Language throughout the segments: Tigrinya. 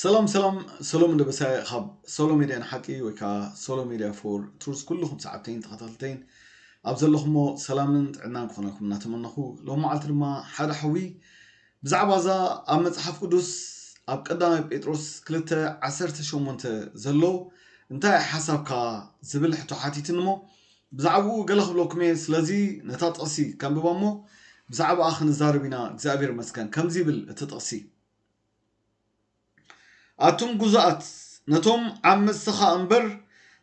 ሰላም ሰላም ሰሎም ደበሳይ ካብ ሶሎ ሚድያ ንሓቂ ወይ ከዓ ሶሎ ሚድያ ፎር ትሩዝ ኩልኹም ሰዓብተይን ተኸታተልተይን ኣብ ዘለኹሞ ሰላምን ጥዕናን ክኾነልኩም እናተመነኹ ሎም መዓልቲ ድማ ሓደ ሓዊ ብዛዕባ እዛ ኣብ መፅሓፍ ቅዱስ ኣብ ቀዳማይ ጴጥሮስ 2 18 ዘሎ እንታይ ሓሳብካ ዝብል ሕቶ ሓቲትን እሞ ብዛዕብኡ ገለ ክብለኩም እየ ስለዚ ነታ ጥቕሲ ከንብባ እሞ ብዛዕብኣ ክንዛረብ ኢና እግዚኣብሔር ይመስገን ከምዚ ይብል እቲ ጥቕሲ ኣቱም ጉዙኣት ነቶም ዓመፅትኻ እምበር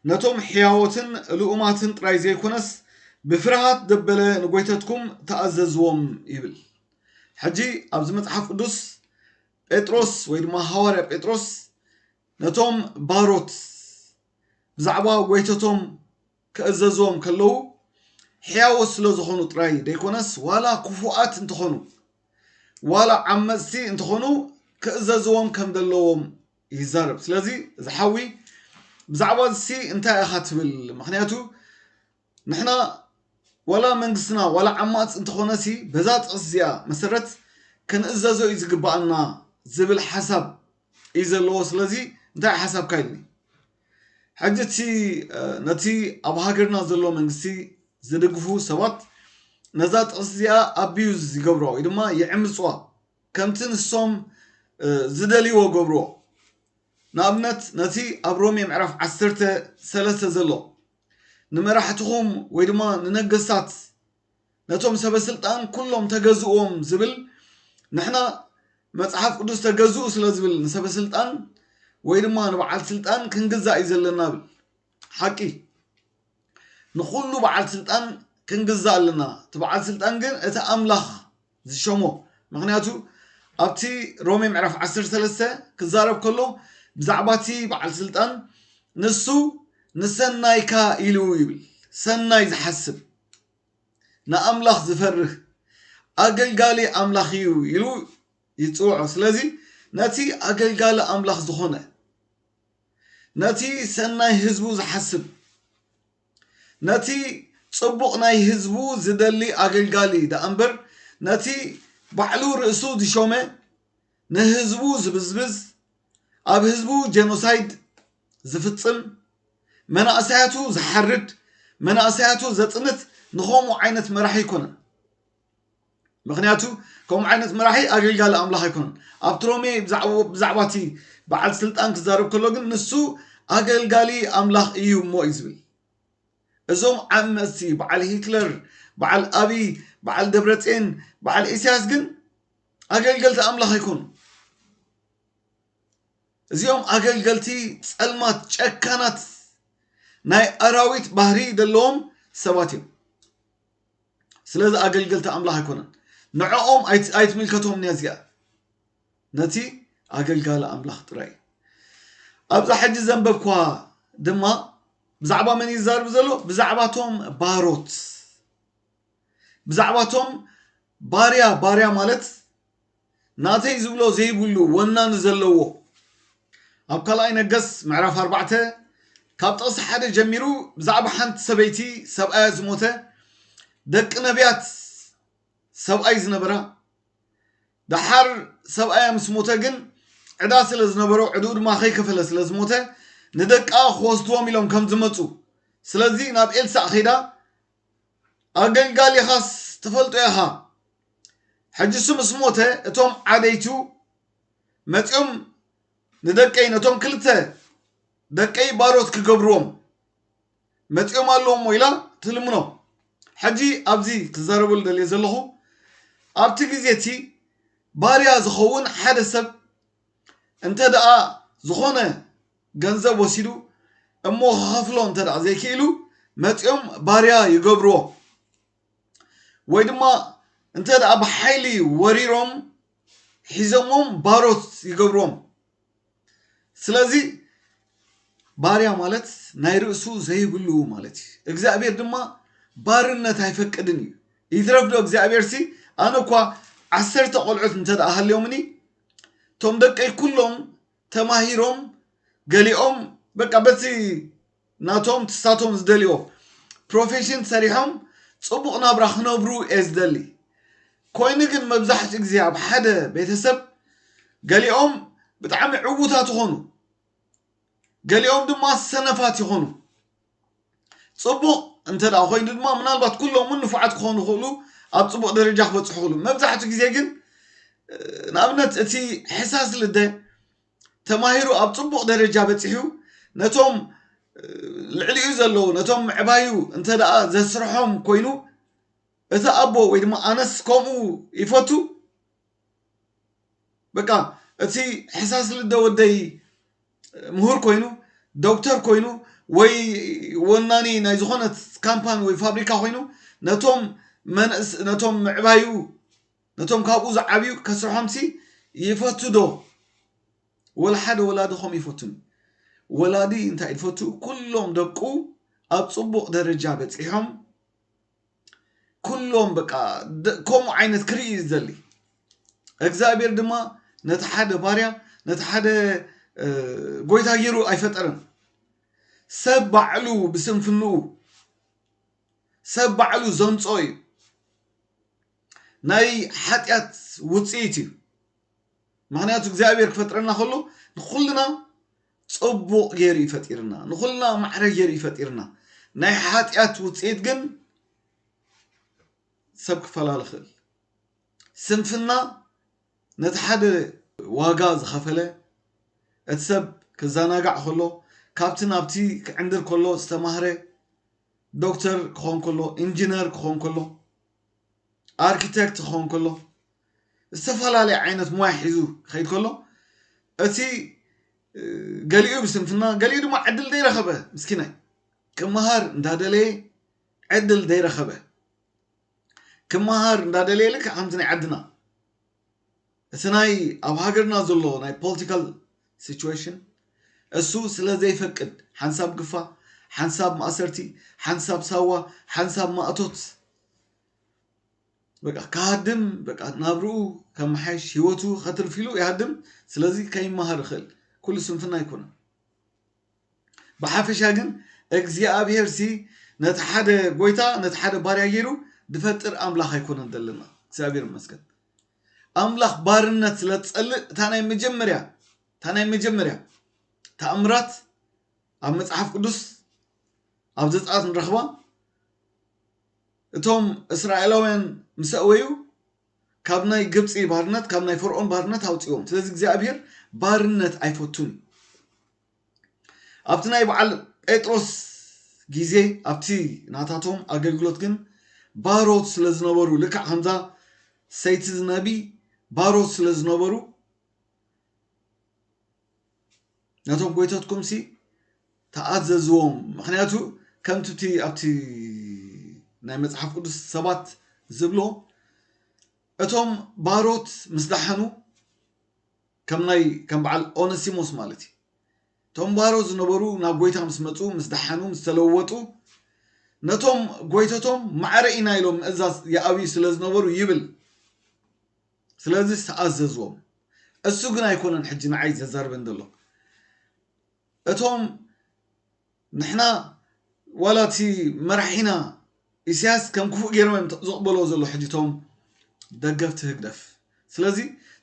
ነቶም ሕያዎትን ልኡማትን ጥራይ ዘይኮነስ ብፍርሃት ደበለ ንጎይተትኩም ተኣዘዝዎም ይብል ሕጂ ኣብዚ መፅሓፍ ቅዱስ ጴጥሮስ ወይ ድማ ሃዋርያ ጴጥሮስ ነቶም ባሮት ብዛዕባ ጐይቶቶም ክእዘዝዎም ከለዉ ሕያዎት ስለ ዝኾኑ ጥራይ ደይኮነስ ዋላ ክፉኣት እንተኾኑ ዋላ ዓመጽቲ እንተኾኑ ክእዘዝዎም ከም ዘለዎም ይዛረብ ስለዚ እዚ ሓዊ ብዛዕባ እዚ እንታይ ኢኻ ትብል ምክንያቱ ንሕና ዋላ መንግስትና ዋላ ዓማጽ እንተኾነሲ በዛ ጥቕሲ እዚኣ መሰረት ከንእዘዞ እዩ ዝግባኣና ዝብል ሓሳብ እዩ ዘለዎ ስለዚ እንታይ ሓሳብካ ኢልኒ ሕጂ እቲ ነቲ ኣብ ሃገርና ዘሎ መንግስቲ ዝድግፉ ሰባት ነዛ ጥቕሲ እዚኣ ኣቢዩዝ ይገብሮ ወይ ድማ ይዕምፅዋ ከምቲ ንሶም ዝደልይዎ ገብርዎ ንኣብነት ነቲ ኣብ ሮሜ ምዕራፍ ዓሰርተ ሰለስተ ዘሎ ንመራሕትኹም ወይ ድማ ንነገስታት ነቶም ሰበ ስልጣን ኩሎም ተገዝእዎም ዝብል ንሕና መጽሓፍ ቅዱስ ተገዝኡ ስለ ዝብል ንሰበ ስልጣን ወይ ድማ ንበዓል ስልጣን ክንግዛእ እዩ ዘለና ብል ሓቂ ንኩሉ በዓል ስልጣን ክንግዛእ ኣለና እቲ በዓል ስልጣን ግን እቲ ኣምላኽ ዝሸሞ ምክንያቱ ኣብቲ ሮሜ ምዕራፍ 13 ክዛረብ ከሎ ብዛዕባ እቲ በዓል ስልጣን ንሱ ንሰናይካ ኢሉ ይብል ሰናይ ዝሓስብ ንኣምላኽ ዝፈርህ ኣገልጋሊ ኣምላኽ እዩ ኢሉ ይፅውዖ ስለዚ ነቲ ኣገልጋሊ ኣምላኽ ዝኾነ ነቲ ሰናይ ህዝቡ ዝሓስብ ነቲ ጽቡቕ ናይ ህዝቡ ዝደሊ ኣገልጋሊ ደኣምበር ነቲ ባዕሉ ርእሱ ዝሾመ ንህዝቡ ዝብዝብዝ ኣብ ህዝቡ ጀኖሳይድ ዝፍጽም መናእሰያቱ ዝሓርድ መናእሰያቱ ዘጽንት ንኸምኡ ዓይነት መራሒ ኣይኮነን። ምኽንያቱ ከምኡ ዓይነት መራሒ ኣገልጋሊ ኣምላኽ ኣይኮነን። ኣብቲ ሮሜ ብዛዕባ እቲ በዓል ስልጣን ክዛረብ ከሎ ግን ንሱ ኣገልጋሊ ኣምላኽ እዩ እሞ እዩ ዝብል። እዞም ዓመፅቲ በዓል ሂትለር፣ በዓል ኣብይ፣ በዓል ደብረፅን፣ በዓል ኢሳያስ ግን ኣገልገልቲ ኣምላኽ ኣይኮኑ። እዚኦም ኣገልገልቲ ፀልማት ጨካናት ናይ ኣራዊት ባህሪ ዘለዎም ሰባት እዮም። ስለዚ ኣገልገልቲ ኣምላኽ ኣይኮነን ንዕኦም ኣይትምልከቶም ነዚኣ ነቲ ኣገልጋሊ ኣምላኽ ጥራይ እዩ ኣብዛ ሕጂ ዘንበብኳ ድማ ብዛዕባ መን ይዛርብ ዘሎ ብዛዕባቶም ባሮት ብዛዕባቶም ባርያ ባርያ ማለት ናተይ ዝብሎ ዘይብሉ ወናኒ ዘለዎ ኣብ ካልኣይ ነገስ ምዕራፍ ኣርባዕተ ካብ ጥቕሲ ሓደ ጀሚሩ ብዛዕባ ሓንቲ ሰበይቲ ሰብኣያ ዝሞተ ደቂ ነቢያት ሰብኣይ ዝነበራ ደሓር ሰብኣያ ምስ ሞተ ግን ዕዳ ስለ ዝነበሮ ዕድኡ ድማ ከይከፈለ ስለ ዝሞተ ንደቃ ክወስድዎም ኢሎም ከም ዝመፁ ስለዚ ናብ ኤልሳእ ከይዳ ኣገልጋሊኻስ ትፈልጦ ኢኻ ሕጂ እሱ ምስ ሞተ እቶም ዓበይቱ መጺኦም ንደቀይ ነቶም ክልተ ደቀይ ባሮት ክገብርዎም መጺኦም ኣለዎ እሞ ኢላ ትልምኖ ሕጂ ኣብዚ ክዛረበሉ ደልየ ዘለኹ ኣብቲ ግዜ እቲ ባርያ ዝኸውን ሓደ ሰብ እንተ ደኣ ዝኾነ ገንዘብ ወሲዱ እሞ ክኸፍሎ እንተ ደኣ ዘይክኢሉ መጺኦም ባርያ ይገብርዎ ወይ ድማ እንተ ደኣ ብሓይሊ ወሪሮም ሒዞሞም ባሮት ይገብሮም ስለዚ ባርያ ማለት ናይ ርእሱ ዘይብሉ ማለት እዩ እግዚኣብሔር ድማ ባርነት ኣይፈቅድን እዩ ይትረፍ ዶ እግዚኣብሔር ሲ ኣነ እኳ ዓሰርተ ቆልዑት እንተ ደኣ ሃልዮምኒ እቶም ደቀይ ኩሎም ተማሂሮም ገሊኦም በቃ በቲ ናቶም ትሳቶም ዝደልዮ ፕሮፌሽን ሰሪሖም ጽቡቕ ናብራ ክነብሩ እየ ዝደሊ ኮይኑ ግን መብዛሕትኡ ግዜ ኣብ ሓደ ቤተሰብ ገሊኦም ብጣዕሚ ዕውታት ይኾኑ ገሊኦም ድማ ሰነፋት ይኾኑ ጽቡቕ እንተ ደኣ ኮይኑ ድማ ምናልባት ኩሎም እውን ንፉዓት ክኾኑ ይኽእሉ ኣብ ጽቡቕ ደረጃ ክበጽሑ ይኽእሉ መብዛሕትኡ ግዜ ግን ንኣብነት እቲ ሕሳስ ልደ ተማሂሩ ኣብ ጽቡቕ ደረጃ በጺሑ ነቶም ልዕሊኡ ዘለዉ ነቶም ምዕባዩ እንተ ደኣ ዘስርሖም ኮይኑ እቲ ኣቦ ወይ ድማ ኣነስ ከምኡ ይፈቱ በቃ እቲ ሕሳስ ልደ ወደይ ምሁር ኮይኑ ዶክተር ኮይኑ ወይ ወናኒ ናይ ዝኾነት ካምፓኒ ወይ ፋብሪካ ኮይኑ ነቶም ነቶም ምዕባዩ ነቶም ካብኡ ዝዓብዩ ከስርሖምሲ ይፈቱ ዶ ወላ ሓደ ወላዲ ከምኡ ይፈቱን ወላዲ እንታይ ዝፈቱ ኩሎም ደቁ ኣብ ጽቡቕ ደረጃ በጺሖም ኩሎም በቃ ደ- ከምኡ ዓይነት ክርኢ እዩ ዝደሊ እግዚኣብሔር ድማ ነቲ ሓደ ባርያ ነቲ ሓደ እ፣ ጎይታ ገይሩ ኣይፈጠረን ሰብ ባዕሉ ብስንፍንኡ ሰብ ባዕሉ ዘምጾ እዩ ናይ ሓጢኣት ውጽኢት እዩ ምክንያቱ እግዚኣብሔር ክፈጥረና ከሎ ንኩልና ጽቡቕ ገይሩ እዩ ፈጢርና ንኩልና ማዕረ ገይሩ እዩ ፈጢርና ናይ ሓጢኣት ውፅኢት ግን ሰብ ክፈላለ ክእል ስንፍና ነቲ ሓደ ዋጋ ዝኸፈለ እቲ ሰብ ክዘናጋዕ ከሎ ካብቲ ናብቲ ክዕንድር ከሎ ዝተማህረ ዶክተር ክኾን ከሎ ኢንጂነር ክኾን ከሎ ኣርክቴክት ክኸውን ከሎ ዝተፈላለየ ዓይነት ሞያ ሒዙ ክኸይድ ከሎ እቲ ገሊኡ ብስንፍና ገሊኡ ድማ ዕድል ዘይረኸበ ምስኪናይ ክመሃር እንዳደለየ ዕድል ዘይረኸበ ክመሃር እንዳደለየ ልክዕ ከምቲ ናይ ዓድና እቲ ናይ ኣብ ሃገርና ዘሎ ናይ ፖልቲካል ሲቹዌሽን እሱ ስለ ዘይፈቅድ ሓንሳብ ግፋ ሓንሳብ ማእሰርቲ ሓንሳብ ሳዋ ሓንሳብ ማእቶት በቃ ክሃድም በቃ ናብርኡ ከመሓይሽ ሂወቱ ከትርፍ ኢሉ ይሃድም ስለዚ ከይመሃር ይኽእል ኩሉ ስንፍና ኣይኮነን ብሓፈሻ ግን እግዚኣብሔርሲ ነቲ ሓደ ጎይታ ነቲ ሓደ ባርያ ገይሩ ድፈጥር ኣምላኽ ኣይኮነን ዘለና እግዚኣብሔር ይመስገን ኣምላኽ ባርነት ስለ ትጸልእ እታ ናይ መጀመርያ እታ ናይ መጀመርያ ተኣምራት ኣብ መጽሓፍ ቅዱስ ኣብ ዘጻት ንረኽባ እቶም እስራኤላውያን ምስ ኣእወዩ ካብ ናይ ግብፂ ባርነት ካብ ናይ ፈርዖን ባርነት ኣውፅዎም ስለዚ እግዚኣብሄር ባርነት ኣይፈቱን እዩ ኣብቲ ናይ በዓል ጴጥሮስ ግዜ ኣብቲ ናታቶም ኣገልግሎት ግን ባሮት ስለ ዝነበሩ ልክዕ ከምዛ ሰይቲ ዝነቢ ባሮት ስለ ዝነበሩ ነቶም ጎይተትኩም ሲ ተኣዘዝዎም ምክንያቱ ከምቲ እቲ ኣብቲ ናይ መፅሓፍ ቅዱስ ሰባት ዝብሎ እቶም ባሮት ምስ ዳሓኑ ከም ናይ ከም በዓል ኦነሲሞስ ማለት እዩ። እቶም ባሮ ዝነበሩ ናብ ጎይታ ምስ መጹ ምስ ደሓኑ ምስ ተለወጡ ነቶም ጎይተቶም ማዕረ ኢና ኢሎም ምእዛዝ ይኣብዩ ስለ ዝነበሩ ይብል ስለዚ ዝተኣዘዝዎም እሱ ግን ኣይኮነን ሕጂ ንዓይ ዘዛርበን ዘሎ እቶም ንሕና ዋላ እቲ መራሒና ኢሳያስ ከም ክፉእ ገይሮም እዮም ዝቕበልዎ ዘሎ ሕጂ እቶም ደገፍቲ ህግደፍ ስለዚ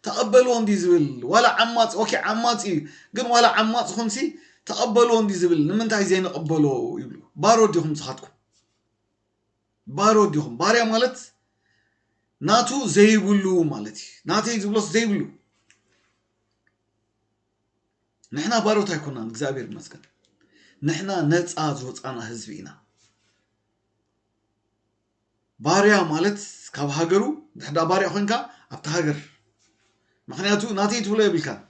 ተቐበልዎ እንዲ ዝብል ዋላ ዓማፅ ኦኬ ዓማፅ እዩ ግን ዋላ ዓማፅ ኹንሲ ተቐበልዎ እንዲ ዝብል ንምንታይ ዘይንቕበሎ ይብሉ ባሮ ዲኹም ንስኻትኩም ባሮ ዲኹም ባርያ ማለት ናቱ ዘይብሉ ማለት እዩ ናተይ ዝብሎስ ዘይብሉ ንሕና ባሮት ኣይኮናን እግዚኣብሔር ይመስገን ንሕና ነፃ ዝወፃና ህዝቢ ኢና ባርያ ማለት ካብ ሃገሩ ድሕዳ ባርያ ኮንካ ኣብቲ ሃገር ምክንያቱ ናተይ ትብሎ የብልካን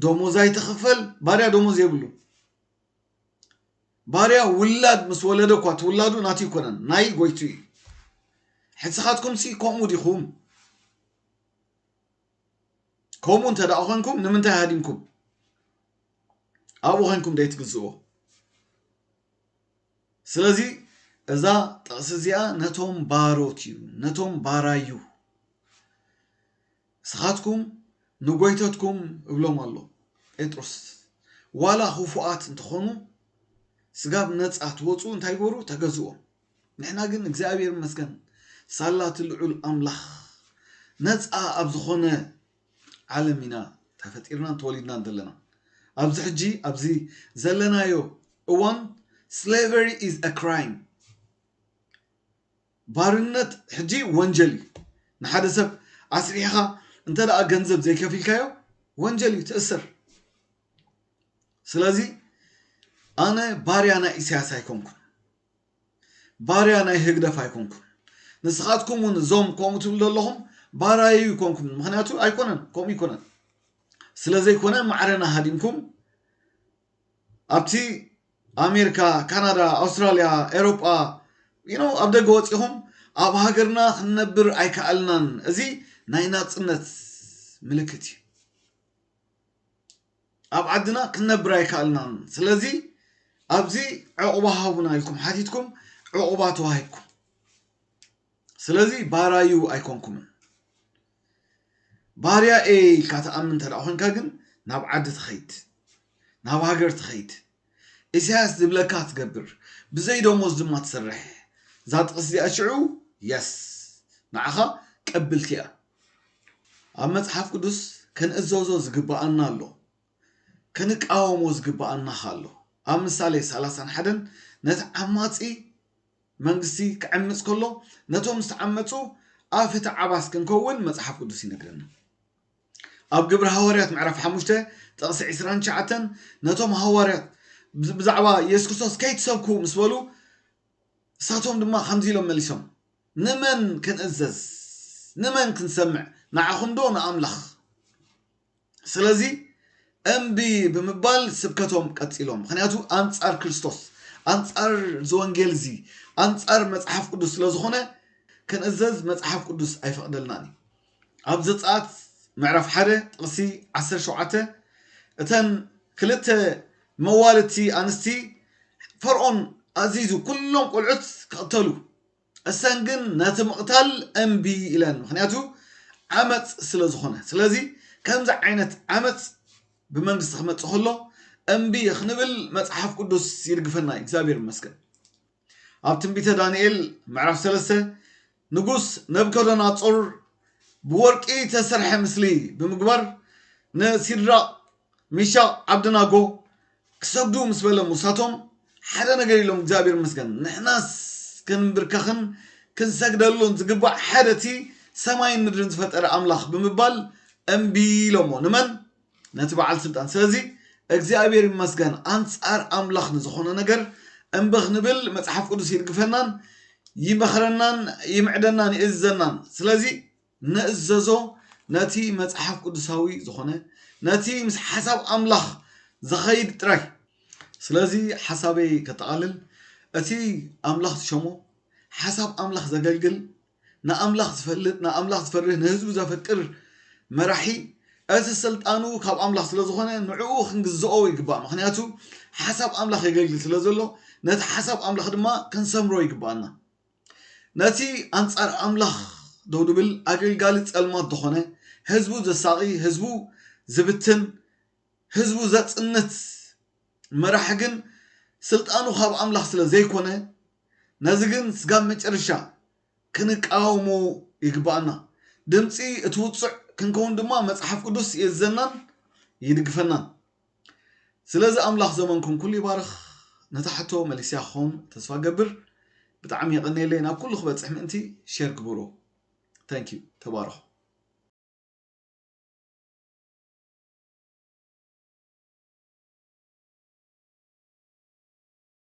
ደሞዝ ኣይትኽፈል ባርያ ደሞዝ የብሉ ባርያ ውላድ ምስ ወለደ እኳ ትውላዱ ናት ይኮነን ናይ ጎይቱ እዩ ሕፅኻትኩም ሲ ከምኡ ዲኹም ከምኡ እንተ ደኣ ኮንኩም ንምንታይ ሃዲምኩም ኣብኡ ኮንኩም ደይትግዝእዎ ስለዚ እዛ ጥቕሲ እዚኣ ነቶም ባሮት እዩ ነቶም ባራዩ ንስኻትኩም ንጎይተትኩም እብሎም ኣሎ ጴጥሮስ ዋላ ክፉኣት እንተኾኑ ስጋብ ነፃ ትወፁ እንታይ ግበሩ ተገዝዎም ንሕና ግን እግዚኣብሔር ይመስገን ሳላ እቲ ልዑል ኣምላኽ ነፃ ኣብ ዝኾነ ዓለም ኢና ተፈጢርናን ተወሊድናን ዘለና ኣብዚ ሕጂ ኣብዚ ዘለናዮ እዋን ስሌቨሪ ኢዝ አ ክራይም ባርነት ሕጂ ወንጀል እዩ ንሓደ ሰብ ኣስሪሕኻ እንተ ደኣ ገንዘብ ዘይከፊልካዮ ወንጀል እዩ ትእስር ስለዚ ኣነ ባርያ ናይ ኢሳያስ ኣይኮንኩን ባርያ ናይ ህግደፍ ኣይኮንኩን ንስካትኩም ውን እዞም ከምኡ ትብሉ ዘለኹም ባራዩ ይኮንኩም ምክንያቱ ኣይኮነን ከምኡ ይኮነን ስለዘይኮነ ማዕረና ሃዲምኩም ኣብቲ ኣሜሪካ ካናዳ ኣውስትራልያ ኤሮጳ ዩ ኣብ ደገ ወፂኹም ኣብ ሃገርና ክንነብር ኣይከኣልናን እዚ ናይ ናፅነት ምልክት እዩ ኣብ ዓድና ክንነብር ኣይካኣልናን ስለዚ ኣብዚ ዕቁባ ሃቡና ኢልኩም ሓቲትኩም ዕቁባ ተዋሂብኩም ስለዚ ባራዩ ኣይኮንኩምን ባርያ ኤ ኢልካ ተኣምን እንተ ኮንካ ግን ናብ ዓዲ ትኸይድ ናብ ሃገር ትኸይድ ኢሳያስ ዝብለካ ትገብር ብዘይ ደሞዝ ድማ ትሰርሕ እዛ ጥቅሲ እዚኣ ሽዑ የስ ንዓኻ ቅብልቲ እያ ኣብ መጽሓፍ ቅዱስ ከንእዘዞ ዝግብኣና ኣሎ ከንቃወሞ ዝግብኣና ኸ ኣሎ ኣብ ምሳሌ ሰላሳን ሓደን ነቲ ዓማጺ መንግስቲ ክዕምጽ ከሎ ነቶም ዝተዓመጹ ኣብ ፍትዓባስ ክንከውን መጽሓፍ ቅዱስ ይነግረና ኣብ ግብሪ ሃዋርያት ምዕራፍ ሓሙሽተ ጥቕሲ ዕስራን ትሽዓተን ነቶም ሃዋርያት ብዛዕባ የሱስ ክርስቶስ ከይትሰብኩ ምስ በሉ ንሳቶም ድማ ከምዚ ኢሎም መሊሶም ንመን ክንእዘዝ ንመን ክንሰምዕ ንዓኹም ዶ ንኣምላኽ ስለዚ እምቢ ብምባል ስብከቶም ቀፂሎም ምክንያቱ ኣንፃር ክርስቶስ ኣንፃር ዝወንጌል እዚ ኣንፃር መፅሓፍ ቅዱስ ስለዝኾነ ክንእዘዝ መፅሓፍ ቅዱስ ኣይፈቕደልናን እዩ ኣብ ዘጸኣት ምዕራፍ ሓደ ጥቕሲ ዓሰርተ ሸውዓተ እተን ክልተ መዋልድቲ ኣንስቲ ፈርኦን ኣዚዙ ኩሎም ቁልዑት ክቕተሉ እሰን ግን ነቲ ምቕታል እምቢ ኢለን ምክንያቱ ዓመፅ ስለ ዝኾነ ስለዚ ከምዚ ዓይነት ዓመፅ ብመንግስቲ ክመፅእ ከሎ እምቢ ክንብል መፅሓፍ ቅዱስ ይድግፈና እዩ እግዚኣብሔር ይመስገን ኣብ ትንቢተ ዳንኤል ምዕራፍ ሰለስተ ንጉስ ነብከዶናጾር ብወርቂ ተሰርሐ ምስሊ ብምግባር ንሲድራቅ ሚሻቅ ዓብድናጎ ክሰግዱ ምስ በለ ሙሳቶም ሓደ ነገር ኢሎም እግዚኣብሔር ይመስገን ንሕናስ ክንብርከኽን ክንሰግደሉን ዝግባእ ሓደ እቲ ሰማይን ምድርን ዝፈጠረ ኣምላኽ ብምባል እምቢ ኢሎሞ ንመን ነቲ በዓል ስልጣን ስለዚ እግዚኣብሔር ይመስገን ኣንጻር ኣምላኽ ንዝኾነ ነገር እምቢ ክንብል መጽሓፍ ቅዱስ ይድግፈናን ይመኽረናን ይምዕደናን ይእዝዘናን ስለዚ ንእዘዞ ነቲ መጽሓፍ ቅዱሳዊ ዝኾነ ነቲ ምስ ሓሳብ ኣምላኽ ዝኸይድ ጥራይ ስለዚ ሓሳበይ ከጠቓልል እቲ ኣምላኽ ዝሸሞ ሓሳብ ኣምላኽ ዘገልግል ንኣምላኽ ዝፈልጥ ንኣምላኽ ዝፈርህ ንህዝቡ ዘፍቅር መራሒ እቲ ስልጣኑ ካብ ኣምላኽ ስለ ዝኾነ ንዕኡ ክንግዝኦ ይግባእ ምክንያቱ ሓሳብ ኣምላኽ የገልግል ስለ ዘሎ ነቲ ሓሳብ ኣምላኽ ድማ ክንሰምሮ ይግባኣና ነቲ ኣንጻር ኣምላኽ ደው ድብል ኣገልጋሊ ጸልማት ዝኾነ ህዝቡ ዘሳቒ ህዝቡ ዝብትን ህዝቡ ዘጽንት መራሒ ግን ስልጣኑ ካብ ኣምላኽ ስለ ዘይኮነ ነዚ ግን ስጋብ መጨረሻ ክንቃወሞ ይግብኣና። ድምጺ እቲ ውጹዕ ክንከውን ድማ መጽሓፍ ቅዱስ ይእዝዘናን ይድግፈናን። ስለዚ ኣምላኽ ዘመንኩም ኩሉ ይባርኽ። ነታ ሕቶ መሊሰያ ክኸውን ተስፋ እገብር። ብጣዕሚ የቐንየለይ ናብ ኩሉ ክበጽሕ ምእንቲ ሼር ግበርዎ። Thank you ተባረኹ።